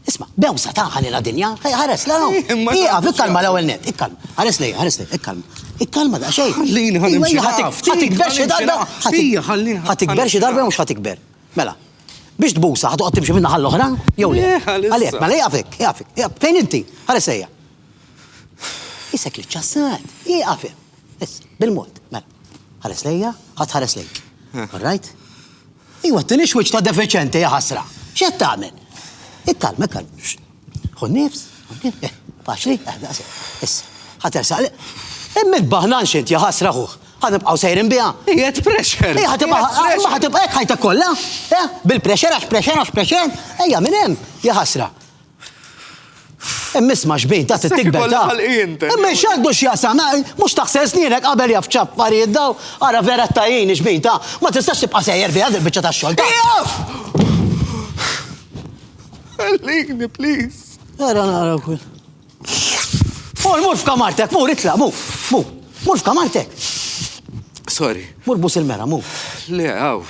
Isma', bewsa ta' ħalila dinja, ħares la hawn. Ieqaf, ikkalma l-ewwel net, ikkalma. Ħares lejja, ħares lejja, ikkalma. Ikkalma da xejn. Ħallini ħa nimxi. Ħatikber xi darba. Ħija, ħallini. Ħatikber xi darba jew mhux ħatikber. Mela, biex tbusa ħa toqgħod timxi min-naħa l-oħra jew le. Għalhekk, mela ieqaf hekk, ieqaf hekk. Fejn inti? Ħares lejja. Isek li ċċassat. Ieqaf hemm. Issa, bil-mod. Mela, ħares lejja, ħa tħares lejja. All right? Ejwa, t-tieni xwiċċ ta' defiċenti, ja ħasra. X'qed tagħmel? Ikkalma, ikkalma. Ħu nifs, eh, faċli, eh, issa, ħatersaq li. Imma baħnan xint, ja ħasra ħuħ. Ħanibqaw sejrin biha. Jiet pressure. Ija ħatibqa' ħatibqa' hekk ħajta kollha. Eh, bil-pressure għax pressure għax pressure. Ejja minn hemm, ja ħasra. Imma isma' xbin, ta' trid tikber ta'. Imma x'għandu x'jaqsam, mhux taħsel snienek qabel jaf x'affarijiet daw, ara vera ttajjini xbin ta', ma tistax tibqa' sejjer fiha dil-biċċa tax-xogħol ta'. Ieqaf! Ħallini, please. Ara nara wkoll. Mur, mur f'kamartek, mur itlaq, mur, mur, mur f'kamartek. Sorry. Mur bus il-mera, mur. Le, hawn.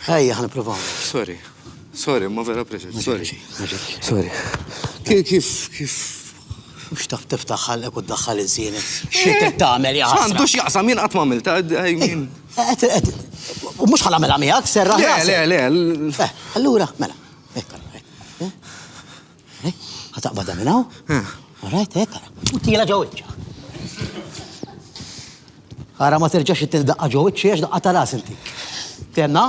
Ejja, ħan provaw. Sorry. Sorry, ma vera pressure. Sorry. Sorry. Kif, kif, kif. Mux taf tiftaħ ħallek u d-daħħal iż-żienek. Xiet eh, tagħmel ja. Għandu x'jaqsam jien qatt ma għamilta, għajmin. Eh, mux ħal għamela miegħek, serra. Le, le, le. Eh, allura, mela. Ħa taqbadha minn hawn. All right, hekk ara. U tiela ġo wiċċha. Ara ma terġax ittini daqqa ġo wiċċi għax daqqa ta' ras intik. Tenna?